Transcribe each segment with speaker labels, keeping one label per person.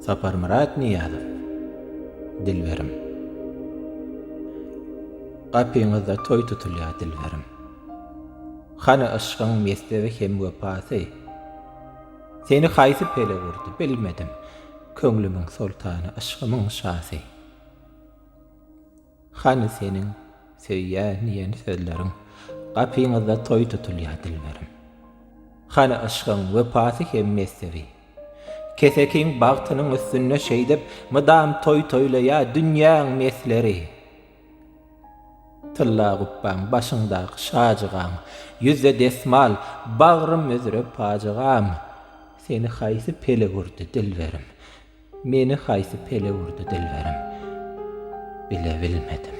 Speaker 1: Saparmyrat Nyýazow, Dilberim. Gapyňyzda toý tutulýar, Dilberim. Hany yşgyň mekdebi hem wepasy? Seni haýsy pelek urdy, bilmedim, Köňlümiň soltany, yşgymyň şasy. Hany seniň söýýän diýen sözleriň Gapyňyzda toý tutulýa dilberim. Hany yşgyň wepasy hem mezhebi Kesekiň bagtynyň üstünde şeýdip Mydam toý toýlaýa dünýäň mesleri. Tylla gupbaň başyňdaky şajygaň Ýüzde desmal bagrym üzre pajygaň Seni haýsy peleg urdy dilberim. Meni haýsy pele urdy dilberim, bilebilmedim.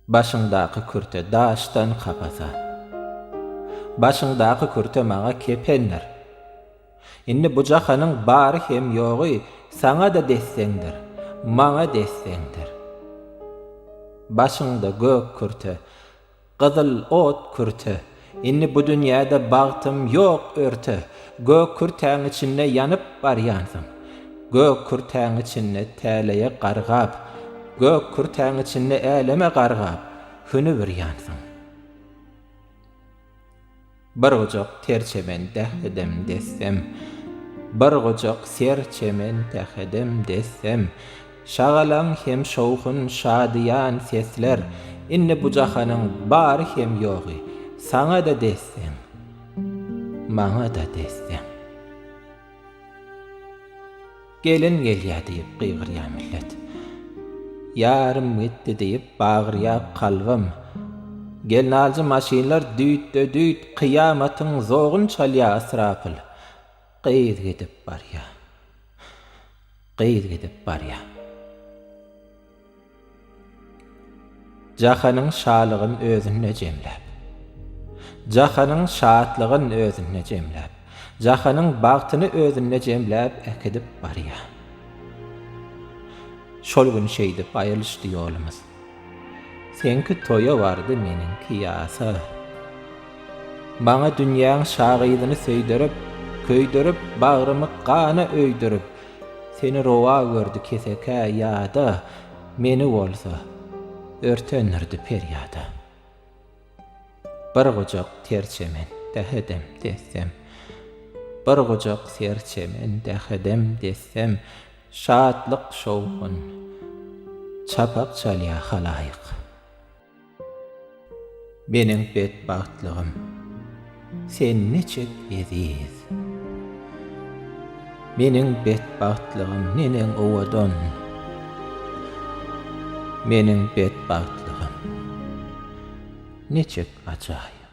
Speaker 1: Başyňdaky kürte daşdan kapasa. Başyňdaky kürte maňa kependir. Indi bu jahanyň bary hem ýogy saňa-da desseňdir, maňa desseňdir. Başyňda gök kürte. Gyzyl ot kürte. Indi bu dünýäde bagtym ýok örte, Gök kürtäň içinde ýanyp barýansyň. Gök kürtäň içinde täleýe gargap, Gök kürtäň içinde äleme gargap, Hünübirýansyň. Bir gujak ter çemen dehedem dessem Bir gujak ser çemen dehedem dessem Şagalaň hem şowhun şadyýan sesler Indi bu jahanyň bary hem ýogy Saňa-da dessem Maňa-da dessem. Gelin gelýär diýip gygyrýar millet. Ýarym gitdi diýip bagyrýar kalbym. Gelnaljy maşynlar düýtde-düýt kyýamatyň zogyn çalýar ysrapyl. Gyz gidip barýar. Gyz gidip barýar. Jahanyň şalygyn özünde jemläp. Jahanyň şatlygyn özünde jemläp. Jahanyň bagtyny özünde jemläp äkidip barýar. Şol gün şeýdip aýrylyşdy ýolumyz. Seňki toýa bardy, meniňki ýasa. Maňa dünýäň şagyzyny söýdürip, köýdürip, bagrymy gana öýdürip. Seni rowa gördi kesekä ýada, Meni bolsa, örtendirdi perýada. Bir gujak ter çemen, dähedem, dessem, Bir gujak ter çemen, dähedem, dessem, Şatlyk-şowhun çapak çalýa halaýyk. Meniň betbagtlygym, sen niçik eziz. Meniň betbagtlygym, neneň owadan. Meniň betbagtlygym, niçik ajaýyp.